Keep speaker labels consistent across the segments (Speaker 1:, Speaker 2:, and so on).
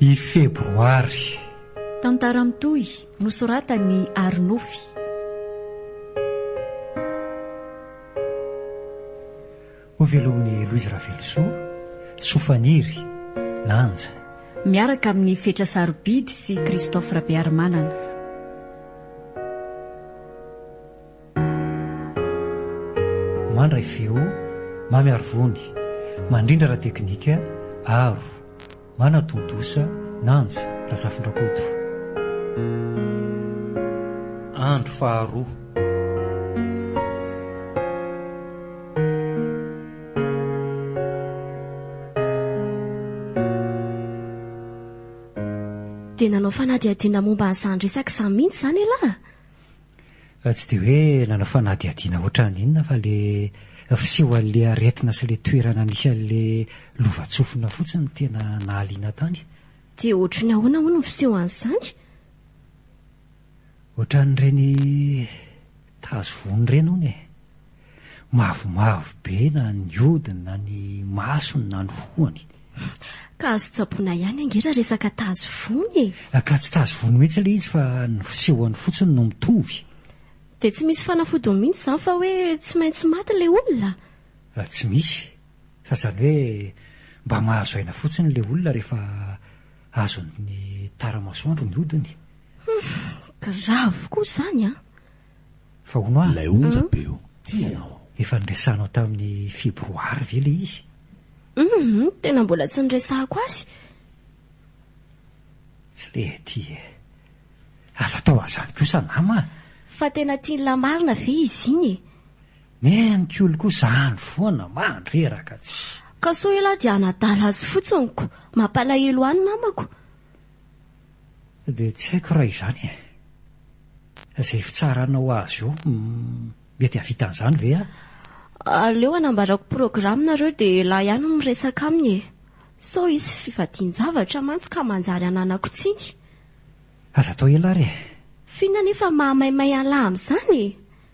Speaker 1: I Febroary. Tantara
Speaker 2: mitohy nosoratan'i Arinofy.
Speaker 1: Hovelomin'i Louise Ravelosoa, Sofaniry, Nanja. Miaraka
Speaker 2: amin'i Fetra Sarobidy sy Christophe Rabearimanana.
Speaker 1: Mandray feo, mamy ary vony, mandrindra raha teknika, aro, manatontosa, nanja, Razafindrakoto. Andro faharoa.
Speaker 3: Dia nanao fanadihadiana momba ny zandry isaky izany mihitsy izany ialahy?
Speaker 1: Tsy dia hoe nanao fanadihadiana ohatran'ny inona fa ilay fiseho an'ilay aretina sy ilay toerana nisy an'ilay lovantsofina fotsiny no tena nahaliana tany. Dia ohatran'ny
Speaker 3: ahoana hono ny fiseho an'izany? Ohatran'ireny
Speaker 1: tazo voany ireny hono e. Mavomavo be na ny hodiny na ny masony na ny hohony. Ka azo
Speaker 3: tsaboina ihany ange raha resaka tazo vony e! Ka tsy tazo vony mihitsy
Speaker 1: ilay izy fa ny fisehony fotsiny no mitovy. Dia tsy misy
Speaker 3: fanafodiny mihitsy izany fa hoe tsy maintsy maty ilay olona? Tsy misy.
Speaker 1: Fa izany hoe mba mahazo aina fotsiny ilay olona rehefa azon'ny tara-masoandro ny hodiny. Hum,
Speaker 3: grave koa izany an! Fa hono
Speaker 1: ah. Ilay onja be oh. Tia
Speaker 4: anao. Efa niresahanao
Speaker 1: tamin'i febroary ve ilay izy? Hum,
Speaker 3: tena mbola tsy niresahako azy.
Speaker 1: Tsy le aty e. Aza atao an'izany kosa nama ah. Fa tena tiany
Speaker 3: lahy marina ve izy iny e? Ny an'i
Speaker 1: Kioly koa izany foana, mandreraka tsy. Ka sao ialahy dia
Speaker 3: hanadala azy fotsiny ko. Mampalahelo ahy ny namako.
Speaker 1: Dia tsy haiko raha izany e. Izay fitsaranao azy eo, mety hahavita an'izany ve aho? Aleo
Speaker 3: anambarako programa nareo dia ialahy ihany no miresaka aminy e. Sao hisy fivadian-javatra mantsy ka manjary hananako tsiny. Aza
Speaker 1: atao ialahy re. F'inona anefa
Speaker 3: maha maimay an'lahy amin'izany e?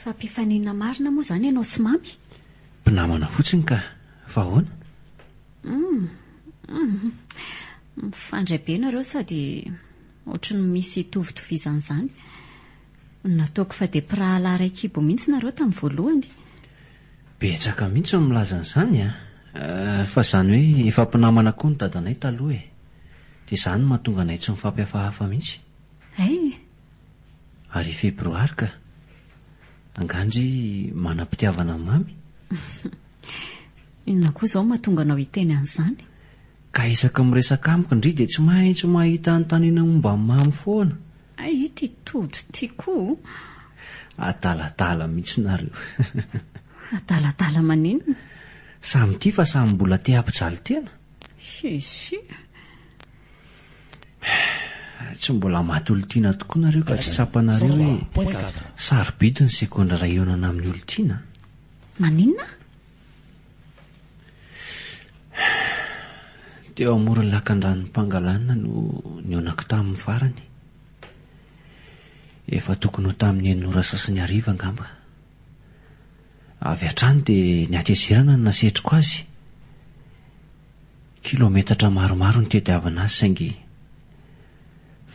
Speaker 2: Fa mpifaninana marina moa izany ianao sy Mamy? Mpinamana
Speaker 4: fotsiny ka! Fa ahoana? Hum!
Speaker 2: Mifandray be nareo sady ohatry ny misy itovitovizana izany. Nataoko fa dia mpirahalahy iray kibo mihitsy nareo tamin'ny voalohany.
Speaker 4: Betsaka mihitsy ny milaza an'izany an! Fa izany hoe efa mpinamana koa ny dadanay taloha e! Dia izany no mahatonga anay tsy mifampihafahafa mihitsy. Hay! Ary febroary ka! Angaha ndry manam-pitiavana mamy?
Speaker 2: Inona koa izao mahatonga anao hiteny an'izany? Ka isaky
Speaker 4: ny miresaka amiko ndry dia tsy maintsy mahita anontaniana momba ny mamy foana. Hay ity
Speaker 2: Tojo ity koa!
Speaker 4: Adaladala mihitsy nareo!
Speaker 2: Adaladala maninona? Samy tia
Speaker 4: fa samy mbola te hampijaly tena? Hisy! Tsy mbola maty olon-tiana tokoa nareo ka tsy tsapanareo hoe sarobidy ny segondra raha hihaonana amin'ny olon-tiana? Maninona? Teo amoron'ny lakandranon'i Pangalana no nihaonako taminy farany. Efa tokony ho tamin'ny enina ora sasany hariva angamba. Avy hatrany dia ny hatezerana no nasetriko azy. Kilaometatra maromaro no tediavina azy saingy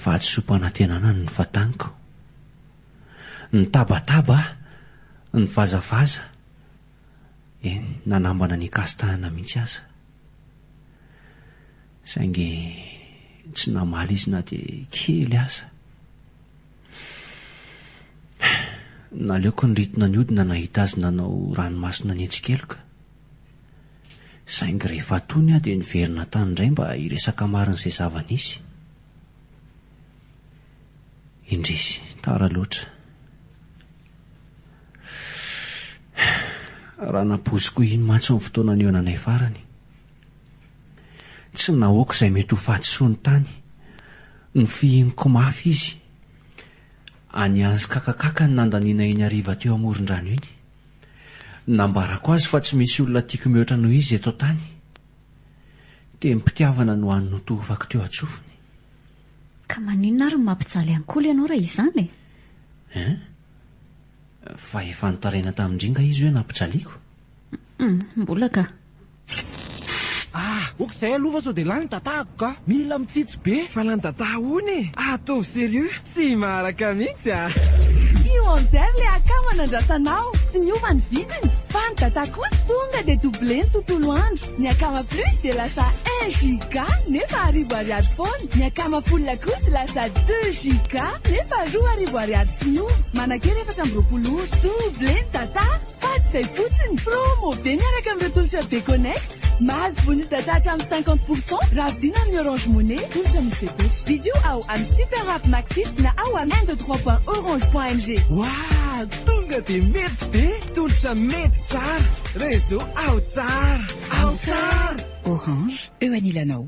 Speaker 4: vatosoam-panantenana no nofataniko. Nitabataba aho, nivazavaza, eny, nanambana ny hikasitahana mihitsy aza. Saingy tsy namaly izy na dia kely aza. Naleoko niritona ny hodina nahita azy nanao ranomaso nanetsi-keloka. Saingy rehefa tony aho dia niverina tany indray mba hiresaka marina izay zava-nisy. Indrisy, tara loatra. Raha nampoiziko iny mantsy ny fotoana nihaonanay farany. Tsy nahoako izay mety ho fahadisoany tany. Nofihiniko mafy izy. Aniazy kakakaka ny nandanianay iny hariva teo amoron-drano iny. Nambarako azy fa tsy misy olona tiako mihoatra noho izy eto an-tany. Tenim-pitiavana no hany notohofako teo an-tsofiny. Ka
Speaker 2: maninona ary no mampijaly ankolha ianao raha izany e? Hein?
Speaker 4: Fa efa nitaraina tamin-dry nga izy hoe nampijaliako? Hum,
Speaker 2: mbola ka. Ah!
Speaker 5: ok zay aloha fa sao dia lany datako ka! Mila mitsitsy be! Fa lany data ahoana e! Ataovy serieux! Tsy maharaka mihitsy ah! Io
Speaker 6: Anzer le akama nandrasanao, tsy niova ny vidiny, fa ny data kosa tonga dia doublé ny tontolo andro, ny akama plus dia lasa un giga nefa arivo ariary foana, ny akama full kosa lasa deux giga nefa roa arivo ariary tsy miova, manakera efatra amby roapolo ora, doublé ny data! Fa tsy izay fotsiny, promo be miaraka amin'ireo tolotra Be Connect. Mahazo bonus data hatramin'ny cinquante pour cent raha vidiana amin'ny Orange Money, tolotra misy fepetra. Vidio ao amin'ny Super App Maxit na ao amin'ny un deux trois point orange point mg. Wahh!
Speaker 5: Tonga dia mety be! Tolotra mety tsara! Réseau ao tsara! Ao tsara! Orange,
Speaker 7: eo anilanao.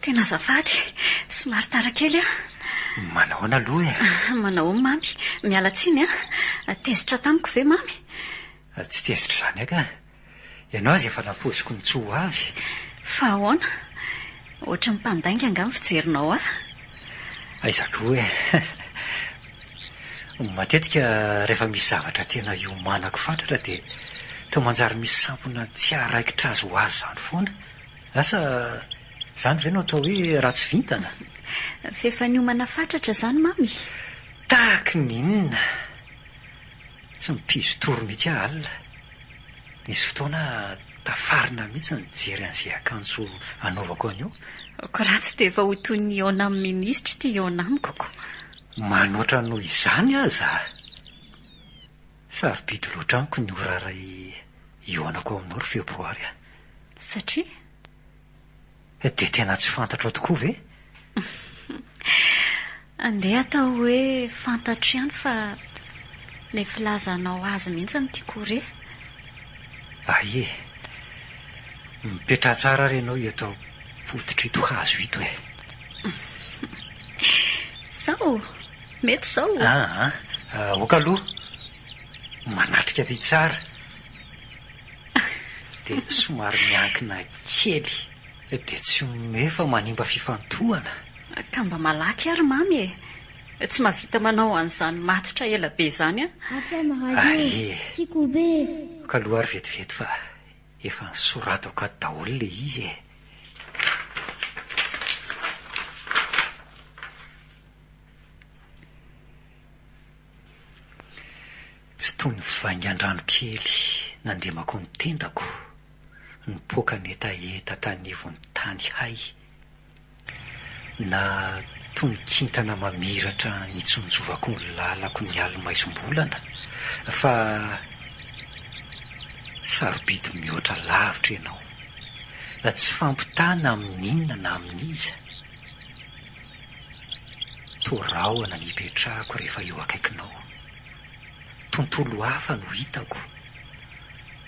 Speaker 2: Tena azafady, somary tara kely aho. Manahoana
Speaker 1: aloha e? Manahoana mamy?
Speaker 2: Miala tsiny a. Ah. Tezitra tamiko ve mamy? Ah, tsy tezitra
Speaker 1: izany aka. Ianao aza efa nampoiziko ny tsy ho avy. Fa ahoana?
Speaker 2: Ohatran'ny mpandainga angaha ny fijerinao ahy?
Speaker 1: Aiza koa e! Matetika rehefa misy zavatra tena iomanako fatratra dia toa manjary misy sampona tsy haharaikitra azy ho azy izany foana. Asa izany ve no atao hoe ratsy vintana? F'efa
Speaker 2: niomana fatratra izany Mamy? Tahaky
Speaker 1: ny inona? Tsy mipizo tory mihitsy aho alina. Nisy fotoana aho. Tafarina mihitsy ny nijery an'izay akanjo anaovako anio. Ko raha tsy
Speaker 2: dia efa ho toy ny eo nam minisitra ity eo namiko ko. Manoatra
Speaker 1: noho izany aza a! Sarobidy loatra amiko ny ora iray hihaonako aminao ry Febroary a! Satria? Dia tena tsy fantatrao tokoa ve?
Speaker 2: Andeha atao hoe fantatro ihany fa le filazanao azy mihitsy no tiako ho re.
Speaker 1: Aie, mipetraha tsara ary ianao eto am-pototr'ito hazo ito e.
Speaker 2: Sao mety izao o? Aa,
Speaker 1: aoka aloha. Manatrika aty tsara. dia somary miankina kely dia tsy omeo fa manimba fifantohana. Ka mba
Speaker 2: malaky ary Mamy e! Tsy mahavita manao an'izany matotra ela be izany aho.
Speaker 1: Aie, ka aloha ary vetivety fa efa nosoratako ato daholo ilay izy e! Tsy toy ny vaingan-drano kely nandemako ny tendako, nipoaka nihetaheta tany ivon'ny tany hay, na toy ny kintana mamiratra nitsonjovako ny lalako ny alin'ny maizim-bolana, fa sarobidy mihoatra lavitra ianao, tsy fampitana amin'inona na amin'iza. Toa rahona ny hipetrahako rehefa eo akaikinao. Tontolo hafa no hitako,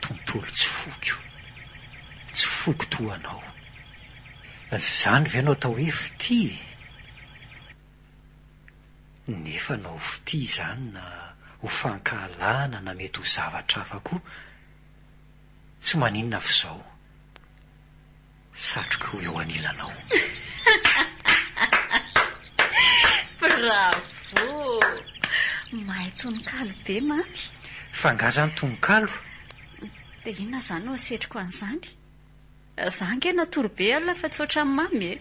Speaker 1: tontolo tsy foko. Tsy foko toa anao. Izany ve no atao hoe fitia e? Nefa na ho fitia izany na ho fankahalana na mety ho zavatra hafa koa, tsy maninona f'izao. satrok'o eo anilanao.
Speaker 2: Bravo! Mahay tononkalo be Mamy. Fa angaha zany
Speaker 1: tononkalo? Dia
Speaker 2: inona zany no asetriko an'izany? Za ange natory be alina fa tsy ohatran'i Mamy e!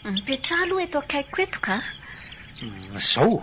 Speaker 2: Mipetraha aloha eto akaikiko eto ka. Zao.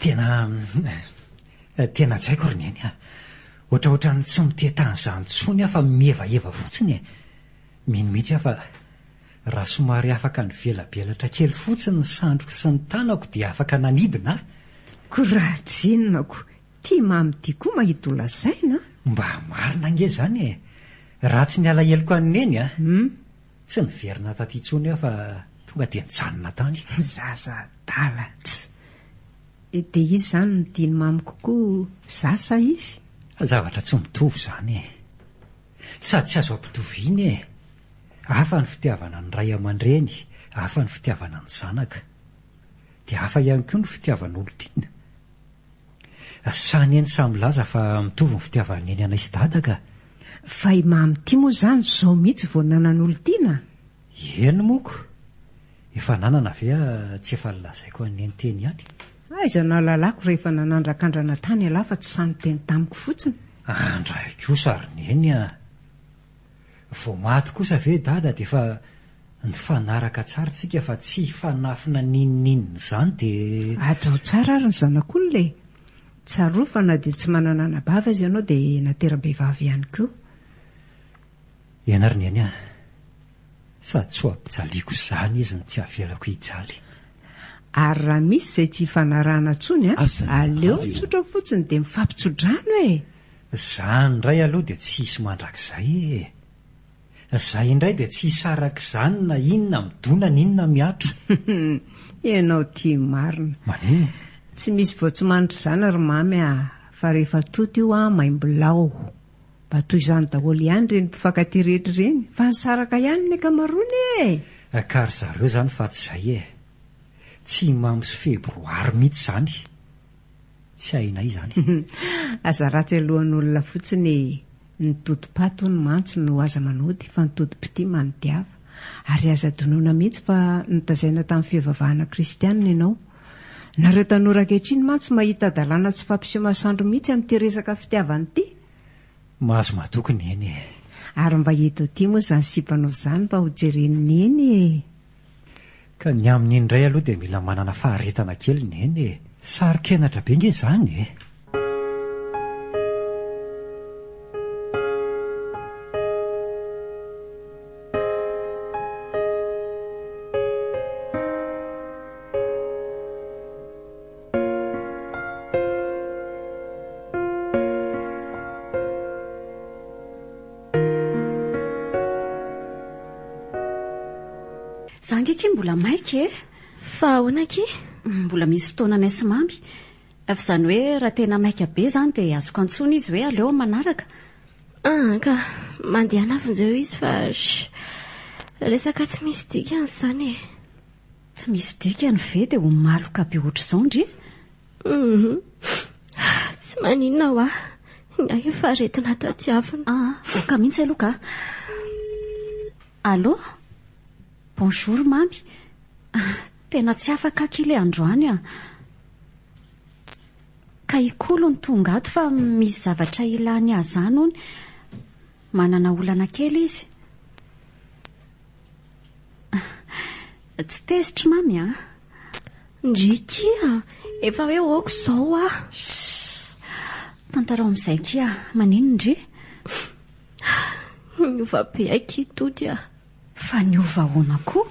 Speaker 1: Tena tena tsaiko ry Neny a! Ohatraohatran'ny tsy mitety an'izany intsony aho fa mihevaheva fotsiny e! Mino mihitsy aho fa raha somary afaka nivelabelatra kely fotsiny ny sandriko sy ny tanako dia afaka nanidina ahy. Koa raha
Speaker 8: tsy inona koa, tia mamy ity koa mahita ho lazaina a! Mba marina
Speaker 1: ange izany e! Ratsy ny alaheloko an'i Neny a! Hum. Tsy niverina taty intsony aho fa tonga dia nijanona tany. Zaza adala
Speaker 8: tsy. Dia izy izany no diny mamy kokoa za sa izy? Zavatra tsy
Speaker 1: mitovy izany e. Sady tsy azo ampitoviana e. Hafa ny fitiavana ny ray aman-dreny, hafa ny fitiavana ny zanaka. Dia hafa ihany koa ny fitiavan'olon-tiana, Sa anie ny saha milaza fa mitovy ny fitiavan'i neny anay sy dada ka! Fa i
Speaker 8: Mamy ity moa izany izao mihitsy vao nanan'olon-tiana? Eny
Speaker 1: moko! Efa nanana ve ah tsy efa nolazaiko an'i neny teny ihany? Aiza nahalalako
Speaker 8: rehefa nanandrakandrana tany ialahy fa tsy sahy niteny tamiko fotsiny? Andray
Speaker 1: kosa ry neny ah! Vao maty kosa ve dada dia efa nifanaraka tsara tsika fa tsy hifanafina n'inon'inona izany dia. Hajao tsara ary ny
Speaker 8: zanak'olona e! Tsarovy fa na dia tsy manana anabavy aza ianao dia natera-behivavy ihany koa.
Speaker 1: Ianà ry Neny a! Sady tsy ho ampijaliako izany izy no tsy avelako hijaly. Ary
Speaker 8: raha misy izay tsy hifanarahana intsony an! Aleo mitsotra fotsiny dia mifampitso-drano e! Zany
Speaker 1: indray aloha dia tsy hisy mandrakizay ee. Zay indray dia tsy hisy arak'izany na inona midona na inona miatra.
Speaker 8: Ianao tia marina. Maninona?
Speaker 1: Tsy misy vao
Speaker 8: tsy manitra izany ry Mamy a! Fa rehefa toto io an, maimbolao. Mba toy izany daholo ihany ireny mpifankatia rehetra ireny. Fa nisaraka ihany ny ankamaroany ee. Ka ry
Speaker 1: zareo izany fa tsy izay ee. Tsy i Mamy sy Febroary mihitsy izany. tsy hainay izany. Aza
Speaker 8: ratsy alohan'olona fotsiny e! Ny totom-paty hono mantsy no aza manody fa ny totom-pitia manodiava. Ary aza adinoina mihitsy fa notazaina tamin'ny fivavahana kristianina ianao. Nareo tanora ankehitriny mantsy mahita dalàna tsy fampiseho masoandro mihitsy amin'ity resaka fitiavana ity. Mahazo
Speaker 1: matoky ny eny e! Ary mba
Speaker 8: eto aty moa izany sipanao izany mba hojeren'ny eny e!
Speaker 1: Ka ny amin'iny indray aloha dia mila manana faharetana kely ny eny e! Saro-kenatra be ange izany e!
Speaker 2: Za nge ki mbola maika e. Fa ahoana
Speaker 3: ki? Mbola misy
Speaker 2: fotoana anay sy mamy. Fa izany hoe raha tena maika be izany dia azoko antsoina izy hoe aleo amin'ny manaraka. Ah, ka.
Speaker 3: Mandehana avy njeo izy fa shh. Resaka tsy misy dikany izany e. Tsy
Speaker 2: misy dikany ve dia ho maloka be ohatr'izao ndry?
Speaker 3: Tsy maninona hoa. Ny ahy efa aretina tadiavina. Ah, ka mihitsy aloha
Speaker 2: ka. Allô? Bonjour mamy. Ah, tena tsy afaka kile androany ah. Ka ikolo ny tonga ato fa misy zavatra ilany ahy zany hono. Manana olana kely izy. Tsy tezitry mamy a. Ndry kia,
Speaker 3: efa hoe ok zao a.
Speaker 2: Tantarao amin'izay kia, maninona ndry?
Speaker 3: Niova be akia Tody a. Fa
Speaker 2: niova ahoana koa?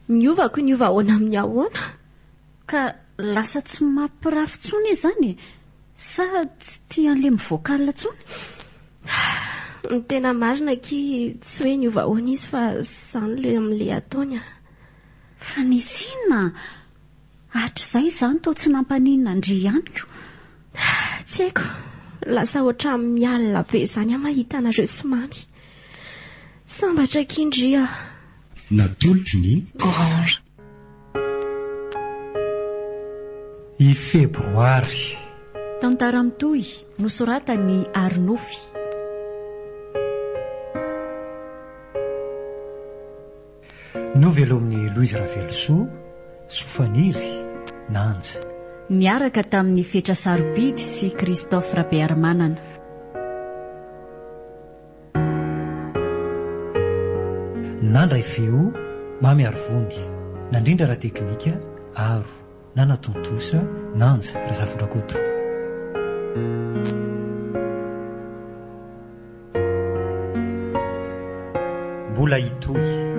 Speaker 2: Niova
Speaker 3: ko niova ahoana amin'ny ahoana? Ka
Speaker 2: lasa tsy mampirafy tsony izy zany e? Sa tsy tia an'le mivoaka alina tsony?
Speaker 3: Ny tena marina aky tsy hoe niova ahoana izy fa zany le amle ataony a. Fa
Speaker 2: nisy inona a? Hatrizay izany toa tsy nampaninona an-dry ihanyko. Tsy
Speaker 3: haiko, lasa ohatran'ny mialona be zany aho mahita anareo sy Mamy. Sambatra aky ndry a. Natolotry
Speaker 9: ny. Orange.
Speaker 1: I Febroary. Tantara
Speaker 2: mitohy nosoratan'i Arinofy.
Speaker 1: Novelomin'i Louise Ravelosoa, Soafaniry, Nanja. Niaraka
Speaker 2: tamin'i Fetra Sarobidy sy Christophe Rabearimanana.
Speaker 1: Nandray feo mamy ary vony, nandrindra ara-teknika, aro, nanatontosa, nanja, Razafindrakoto. Mbola hitohy.